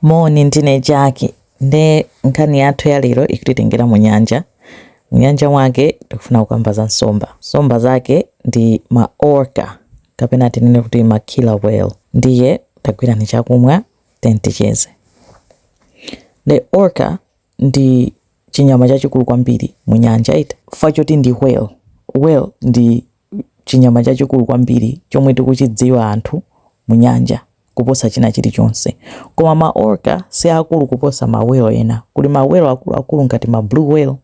Moni, ndine Jackie. Nde nkhani yathu ya lero ikutitengera mu nyanja. Mu nyanja mwake tikufuna kukamba za nsomba. Nsomba zake ndi ma orca kapena tinene kuti ma killer whale. Ndiye tagwirani chakumwa then ticheze. The orca ndi chinyama chachikulu kwambiri mu nyanja iti. Chifukwa choti ndi whale, whale ndi chinyama chachikulu kwambiri chomwe tikuchidziwa anthu mu nyanja kuposa china chilichonse. Koma ma orca si aakulu kuposa ma whale ena. Kuli ma whale akuluakulu ngati ma blue whale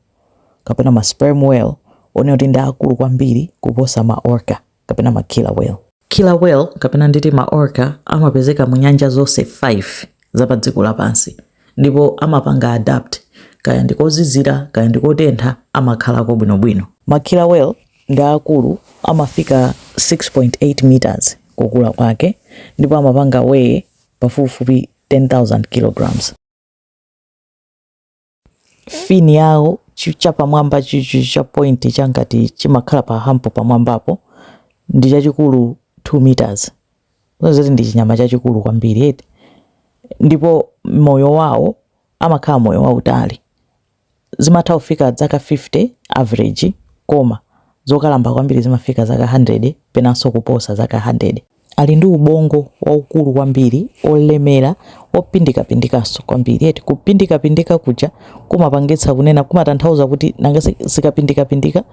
kapena ma sperm whale onena kuti ndi aakulu kwambiri kuposa ma orca kapena ma killer whale. Killer whale kapena nditi ma orca amapezeka mu nyanja zonse 5 za padziko lapansi ndipo amapanga adapt kaya ndi kozizira kaya ndi kotentha amakhalako bwinobwino. Ma killer whale ndi aakulu, amafika 6.8 meters kukula kwake, ndipo amapanga weigh pafupifupi 10,000 kilograms. Fin yawo chapamwamba cha point cha ngati chimakhala pa hampo pamwambapo ndi chachikulu 2 meters, zoti ndi chinyama chachikulu kwambiri eti, ndipo moyo wawo amakhala moyo wautali. zimatha kufika zaka 50 average koma zokalamba kwambiri zimafika zaka 100 penanso kuposa zaka 100. Ali ndi ubongo waukulu kwambiri, olemera, opindikapindikanso kwambiri eti kupindikapindika kuja kumapangitsa kunena kumatanthauza kuti nanga zikapindikapindika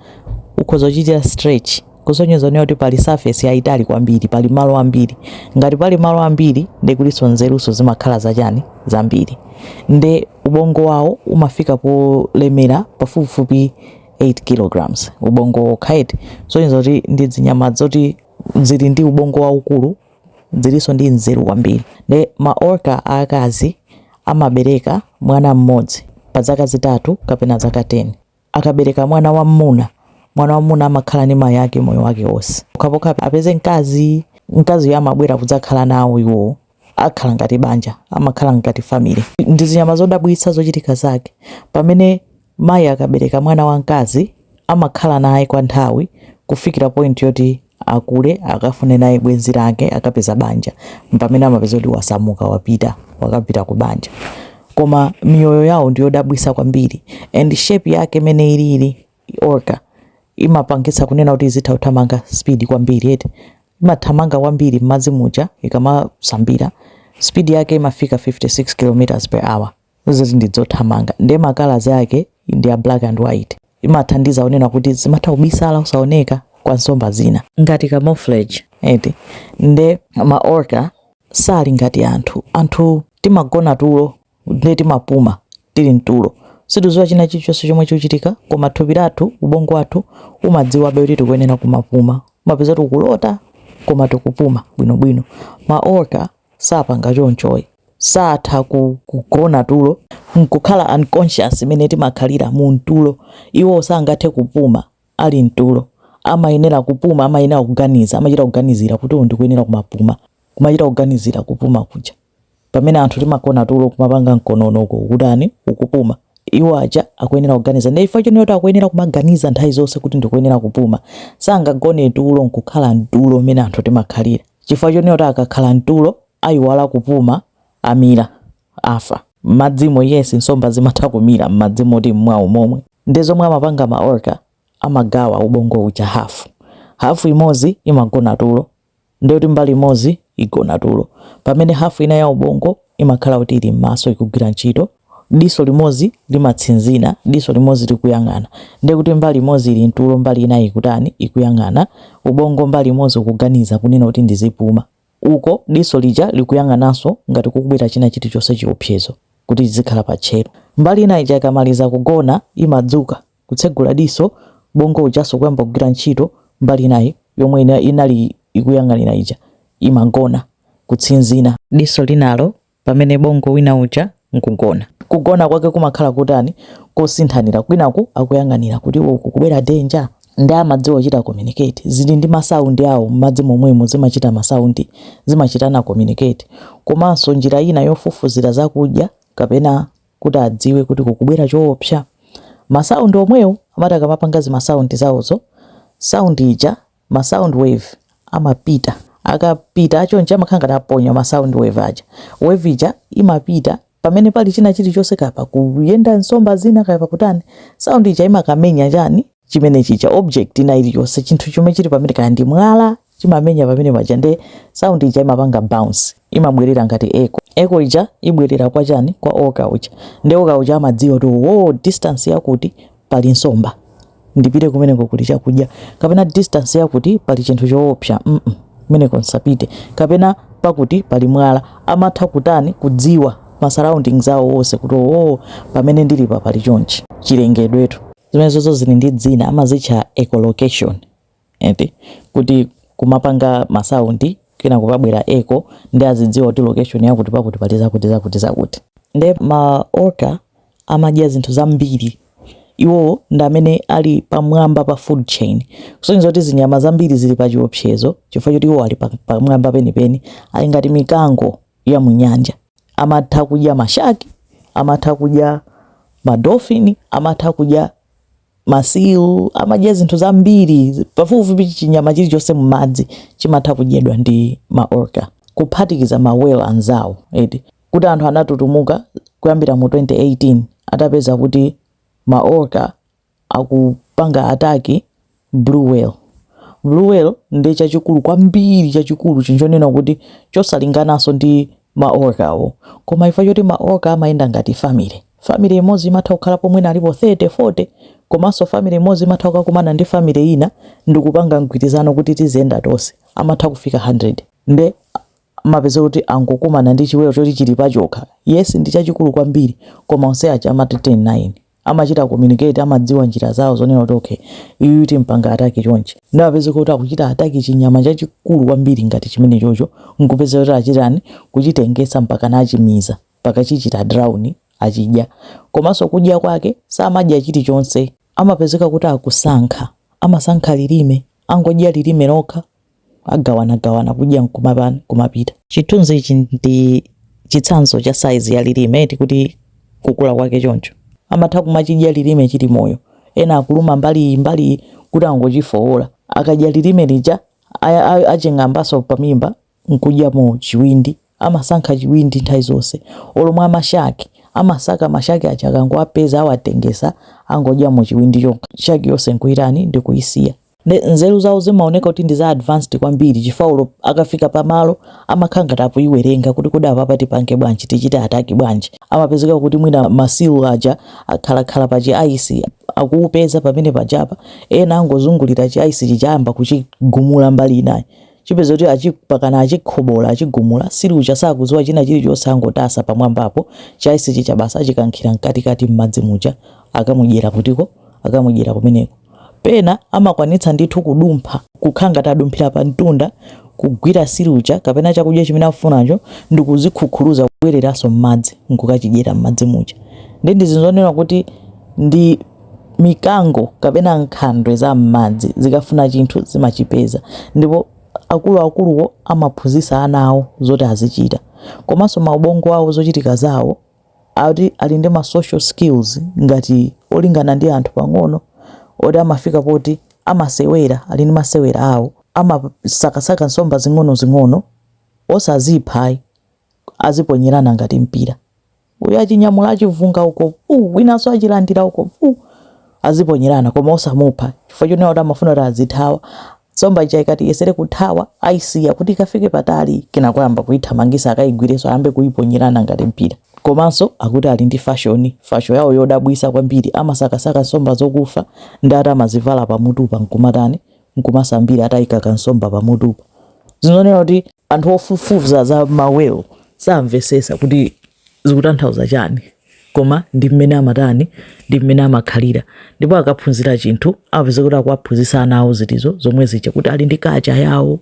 ukhoza kuchitira stretch kusonyeza kunena kuti pali surface yayitali kwambiri, pali malo ambiri. Ngati pali malo ambiri nde kulinso nzeruso zimakhala zachani zambiri nde ubongo wawo umafika polemera pafupifupi 8 kilograms ubongo wokha eti kusonyeza kuti ndi zinyama zoti zili ndi ubongo waukulu zilinso ndi nzeru kwambiri nde ma orca aakazi amabereka mwana mmodzi pa zaka zitatu kapena zaka 10 akabereka mwana wam'muna mwana wam'muna amakhala ndi mayi ake moyo wake wonse pokhapokha apeze mkazi mkaziyo amabwera kudzakhala nawo iwo akhala ngati banja amakhala ngati family ndi zinyama zodabwitsa zochitika zake pamene mayi akabereka mwana wamkazi amakhala naye kwa nthawi kufikira point yoti Akule akafune naye bwenzi lake akapeza banja mpamene amapeza kuti wasamuka wapita wakapita ku banja koma miyoyo yawo ndiyodabwisa kwambiri and shape yake mene ilili orca imapangitsa kunena kuti izitha kuthamanga speed kwambiri eti imathamanga kwambiri mmadzi muja ikamasambira speed yake imafika 56 km per hour zoti ndi zothamanga nde makalazi ake ndi a black and white amathandiza kunena kuti zimatha kubisala osaoneka kwa nsomba zina ngati camouflage eti nde ma orca sali ngati anthu anthu timagona tulo nde timapuma tili mtulo sitidziwa china chilichonse chomwe chikuchitika koma thupi lathu ubongo wathu umadziwabe kuti tikuyenera kumapuma umapeza tikulota koma tikupuma bwinobwino ma orca sapanga chonchoyi satha ku, kugona tulo nkukhala unconscious mmene timakhalira mu mtulo iwo sangathe kupuma ali mtulo amayenera kupuma amayenera kuganiza amachita kuganizira kuti ndikuyenera kumapuma kumachita kuganizira kupuma kuja pamene anthu timagona tulo kumapanga mkonono kukutani ukupuma iwo aja akuyenera kuganiza nde chifukwa chonena kuti akuyenera kumaganiza nthawi zonse kuti ndikuyenera kupuma sangagone tulo nkukhala mtulo mmene anthu timakhalira Chifukwa chonena kuti akakhala m'tulo aiwala kupuma, amira, afa. M'madzimo, yes, nsomba zimatha kumira m'madzi moti mmwawo momwe. Ndiye zomwe amapanga ma orca, amagawa ubongo uja hafu. Hafu imodzi imagona tulo, ndiye kuti mbali imodzi igona tulo, pamene hafu ina ya ubongo imakhala kuti ili m'maso ikugwira ntchito. diso limodzi limatsinzina, diso limodzi likuyang'ana, ndiye kuti mbali imodzi ili mtulo, mbali inayi ikutani? Ikuyang'ana. Ubongo mbali imodzi ukuganiza kunena kuti ndizipuma, uko diso lija likuyang'ananso ngati kukubwera china chilichonse chiopsezo kuti izikhala pa tcheru. Mbali inayi ija ikamaliza kugona imadzuka kutsegula diso, ubongo ujanso kuyamba kugwira ntchito, mbali inayi yomwe inali ikuyang'anira ija imagona kutsinzina. Diso linalo pamene ubongo wina uja nkugona. Kugona kwake kumakhala kotani? Kosinthanasinthana, kwinaku akuyang'anira kuti uku kukubwera danger nde amadziwa kuchita communicate zili ndi masaundi awo m'madzi momwemo zimachita masaundi zimachitana communicate komanso njira ina yofufuzira zakudya kapena kuti adziwe kuti kukubwera choopsa masaundi omwewo amati akamapanga zimasaundi zawozo saundi ija ma sound wave amapita akapita chonchi amakhala ngati aponya ma sound wave aja wave ija imapita pamene pali china chilichonse kaya pakuyenda nsomba zina kaya pakutani sound ija imakamenya chani chimene chija object ina iliyonse chinthu chomwe chili pamene kaya ndi mwala chimamenya pamene paja nde sound ija imapanga bounce imabwerera ngati echo echo ija ibwerera kwa chani kwa orca uja nde orca uja amadziwa kuti wo distance yakuti pali nsomba ndipite kumeneko kuli chakudya kapena distance yakuti pali chinthu choopsa mm -mm. kumeneko nsapite kapena pakuti pali mwala amatha kutani kudziwa ma surroundings awo onse kuti oo oh, pamene ndili pa pali chonchi chilengedwetu zimenezozo zili ndi dzina amazitcha echolocation eti kuti kumapanga ma sound kenako kubwera echo nde azidziwa kuti location yakuti pakuti pali zakuti zakuti zakuti nde ma orca amadya zinthu zambiri iwowo ndi amene ali pamwamba pa food chain kusonyeza kuti zinyama zambiri zili pa chiopsezo chifukwa choti iwo ali pa- pamwamba penipeni ali ngati mikango ya mu nyanja amatha kudya mashaki amatha kudya madolphin amatha kudya Masilu amadya zinthu zambiri, pafupifupi chinyama chilichonse m'madzi chimatha kudyedwa ndi ma orca, kuphatikiza ma whale anzawo, eti kuti anthu anatutumuka kuyambira mu 2018 atapeza kuti ma orca akupanga ataki blue whale. Blue whale ndiye chachikulu kwambiri, chachikulu, chinthu chonena kuti chosalingananso ndi. ma orca wo. Koma chifukwa choti ma orca amayenda ngati family, family imodzi imatha kukhalapo mwina alipo 30, 40 komanso family imodzi imatha kukakumana ndi family ina ndikupanga mgwirizano kuti tiziyenda tonse, amatha kufika 100. Nde amapezeka kuti angokumana ndi chiwelo choti chili pachokha, yes ndi chachikulu kwambiri koma onse aja amati 10, 9. amachita communicate amadziwa njira zawo zonena kuti okay uyu timpanga ataki chonchi nde upeza kuti akuchita ataki chinyama chachikulu kwambiri ngati chimenecho choncho nkupeza kuti achitani kuchitopetsa mpaka achimiza mpaka chichita drown achidya komanso kudya kwake samadya chilichonse amapezeka kuti akusankha amasankha lilime angodya lilime lokha agawanagawana kudya n'kumatani kumapita. Chithunzi ichi ndi chitsanzo cha saizi ya lilime eti kuti kukula kwake choncho. Amatha kumachidya lilime chili moyo. Ena akuluma mbali iyi mbali iyi kuti angochifowola. Akadya lilime lija aching'ambanso pamimba n'kudya mu chiwindi. amasankha chiwindi nthawi zonse olo amashaki amasaka mashaki aja akangowapeza awatopetsa angodyamo chiwindi chokha shaki yonse nkuitani ndikuisiya nde nzeru zawo zimaoneka kuti ndi za advanced kwambiri chifukwa olo akafika pamalo amakhala ngati akuwerenga kuti kodi apapa tipange bwanji tichite ataki bwanji amapezeka kuti mwina masilu aja akhalakhala pa chiaisi akupeza pamene pajapa ena angozungulira chiaisi chija ayamba kuchigumula mbali inayi upeza kuti achipanga achikhobola achigumula silu uja sakudziwa china chilichonse angotsala pamwambapo chaisi chija basi achikankhira mkatikati mmadzi muja akamudyera kutiko akamudyera kumeneko pena amakwanitsa ndithu kudumpha kukhala ngati adumphira pa mtunda kugwira silu uja kapena chakudya chimene afunacho ndi kuzikhukhuluza kubwereranso mmadzi nkukachidyera mmadzi muja nde ndi zinthu zonena kuti ndi Mikango kapena nkhandwe za m'madzi zikafuna chinthu zimachipeza ndipo akuluakuluwo amaphunzitsa ana awo zoti azichita. Komanso maubongo awo, zochitika zawo, ati ali ndi ma social skills ngati olingana ndi anthu pang'ono oti amafika poti amasewera, ali ndi masewera awo, amasakasaka nsomba zing'onozing'ono, osazipha ayi, aziponyerana ngati mpira. uyu achinyamula achivunga uko vuu winanso achilandira uko vuu aziponyerana koma osamupha chifukwa chonena kuti amafuna kuti azithawa nsomba ija ikati iyesere kuthawa ayisiya kuti ikafike patali kenako ayamba kuyithamangisa akayigwirenso ayambe kuyiponyerana ngati mpira komanso akuti ali ndi fasho fasho yawo yodabwitsa kwambiri amasakasaka nsomba zokufa nde ati amazivala pamutu apa nkumatani nkumasambira ataika kansomba pamutu apa zoonena kuti anthu ofufuza za ma whale samvetsetsa kuti zikutanthauza chani koma ndi mmene amatani ndi mmene amakhalira ndipo akaphunzira chinthu amapezeka kuti akuwaphunzitsa ana awo zinthu zo zomwe zija kuti ali ndi culture yawo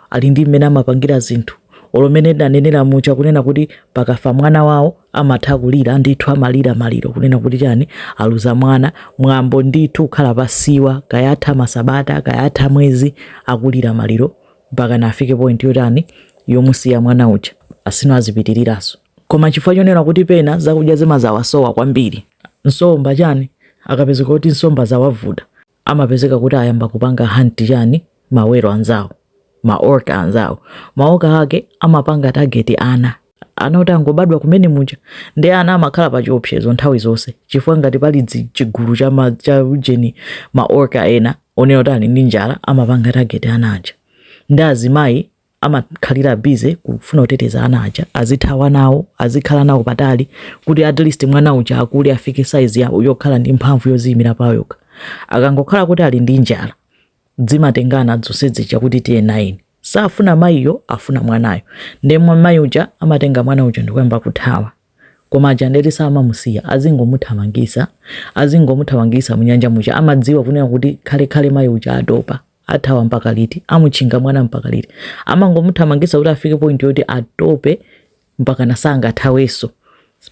ali ndi mmene amapangira zinthu olo mmene ndanenera muja kunena kuti pakafa mwana wawo amatha kulira ndithu amalira maliro kunena kuti chani aluza mwana mwambo ndithu kukhala pasiwa kaya atha masabata kaya atha mwezi akulira maliro mpaka adzafike point yotani yomusiya mwana uja ali iwo azipitiriranso koma chifukwa chonena kuti pena zakudya zimazawasowa kwambiri nsomba chani akapezeka kuti nsomba zawavuta amapezeka kuti ayamba kupanga hunt chani ma whale anzawo ma orca anzawo ma orca ake amapanga target ana ana oti angobadwa kumene muja ndi ana amakhala pa chiopsezo nthawi zonse chifukwa ngati pali dzi- chigulu cha ma- cha ujeni ma orca ena onena kuti ali ndi njala amapanga target ana aja ndi azimayi amakhalira busy kufuna kuteteza ana aja azithawa nawo azikhala nawo patali kuti at least mwana uja akule afike size yake yokhala ndi mphamvu yoziyimira payekha akangokhala kuti ali ndi njala dzimatengana dzonse dzija kuti tiye nayeni safuna mayiyo afuna mwanayo nde mayi uja amatenga mwana uja ndikuyamba kuthawa koma aja nde ati samamusiya azingomuthamangisa azingomuthamangisa munyanja muja amadziwa kunena kuti kale kale mayi uja atopa athawa mpaka liti amuchinga mwana mpaka liti amangomuthamangisa kuti afike point yoti atope mpaka sangathawenso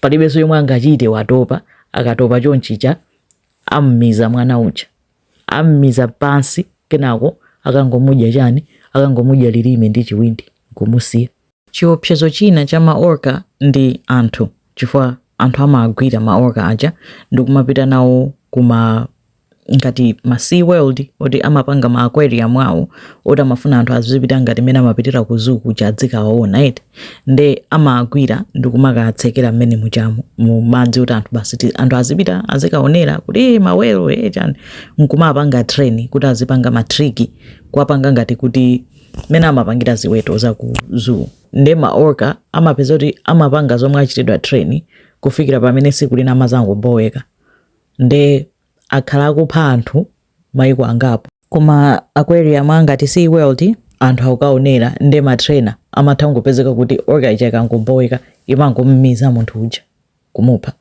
palibenso yomwe angachite watopa akatopa chonchija ammiza mwana uja ammiza pansi kenako akangomudya chani akangomudya lilime ndi chiwindi kumusiya Chiopsezo china cha ma Orca ndi anthu chifukwa anthu amawagwira ma Orca aja ndikumapita nawo kuma ngati ma Sea World oti amapanga ma aquarium awo oti amafuna anthu azipita ngati mene amapitira ku zoo kuja adzikawaona eti nde amawagwira ndikumakatsekera mmene mujamu mu madzi oti anthu basi ti- anthu azipita azikaonera kuti "Eh, ma whale eh chani nkumapanga train kuti azipanga matriki kuwapanga ngati kuti mmene amapangira ziweto za ku zoo nde ma orca amapezeka kuti amapanga zomwe achitidwa train kufikira pamene siku lina amazangoboweka nde akhala akupha anthu maiko angapo kuma aquarium angati sea world anthu akukaonera nde matrainer amatha kungopezeka kuti orca ija ikangoboweka imangommiza munthu uja kumupha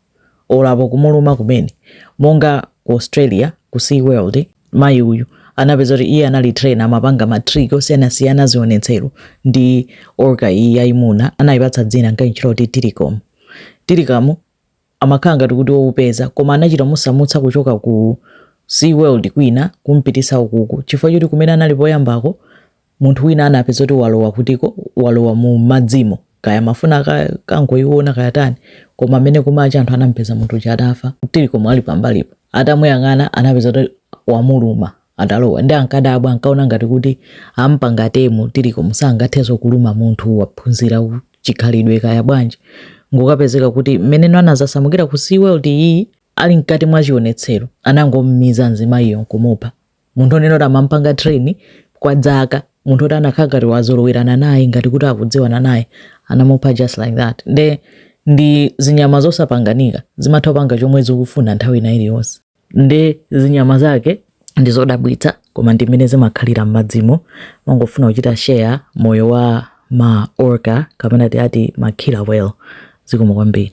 olo apo kumuluma kumene monga ku Australia ku Sea World mayi uyu anapezeka kuti iye anali trainer amapanga ma trick osiyanasiyana zionetsero ndi orca iyi yayimuna anayipatsa dzina nkayitchula kuti Tilikum Tilikum amakhala ngati kuti woopseza koma anachita kumusamutsa kuchoka ku Sea World kwina kumpitisa ukuko chifukwa choti kumene anali poyambako munthu wina anapezeka kuti walowa usiku walowa mu madzimo kaya amafuna kukangoiona kaya tani koma mmene kumacha anthu anampeza munthu uja atafa Tilikum ali pambalipo atamuyang'ana anapeza kuti wamuluma atalowa nde ankadabwa ankaona ngati kuti ampanga tame Tilikum sangathenso kuluma munthu waphunzira chikhalidwe kaya bwanji kungokapezeka kuti mmene anazasamukira ku sea world iyi ali mkati mwa chionetsero anangommiza mzimayiyo nkumupha munthu onena kuti amampanga train kwa dzaka munthu oti anakhala ngati wazolowerana naye ngati kuti akudziwana naye anamupha just like that nde ndi zinyama zosapanganika zimatha kupanga chomwe zikufuna nthawi ina iliyonse nde zinyama zake ndi zodabwitsa koma ndi mmene zimakhalira m'madzimo ndimangofuna kuchita share moyo wa ma orca kapena tiati ma killer whale zikomo kwambiri